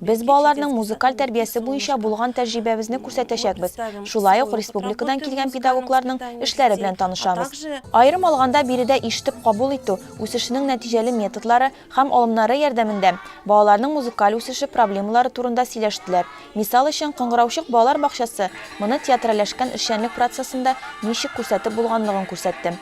Без балаларның музыкаль тәрбиясе буенча булган тәҗрибәбезне күрсәтәчәкбез, шулай ук республикадан килгән педагогларның эшләре белән танышабыз. Аерым алганда, биредә ишетеп кабул итү үсешенең нәтиҗәле методлары һәм алымнары ярдәмендә балаларның музыкаль үсеше проблемалары турында сөйләштеләр. Мисал өчен, Кыңгыраучык балалар бакчасы моны театральләшкән эшчәнлек процессында ничек күрсәтеп булганлыгын күрсәтте.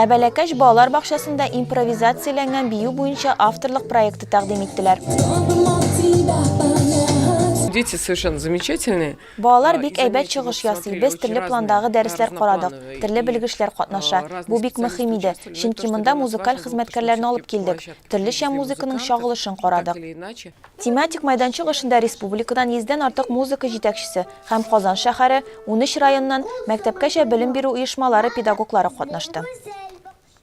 Ә бәләкәч балалар бакчасында импровизацияләнгән бию буенча авторлык проекты тәкъдим иттеләр. Дети совершенно замечательные. Балалар бик әйбәт чыгыш ясый. Без төрле пландагы дәресләр карадык. Төрле белгечләр катнаша. Бу бик мөһим иде, чөнки монда музыкаль хезмәткәрләрне алып килдек. Төрлечә музыканың чагылышын карадык. Тематик мәйданчык эшендә республикадан йөздән артык музыка җитәкчесе һәм Казан шәһәре, унөч районнан, мәктәпкәчә белем бирү оешмалары педагоглары катнашты.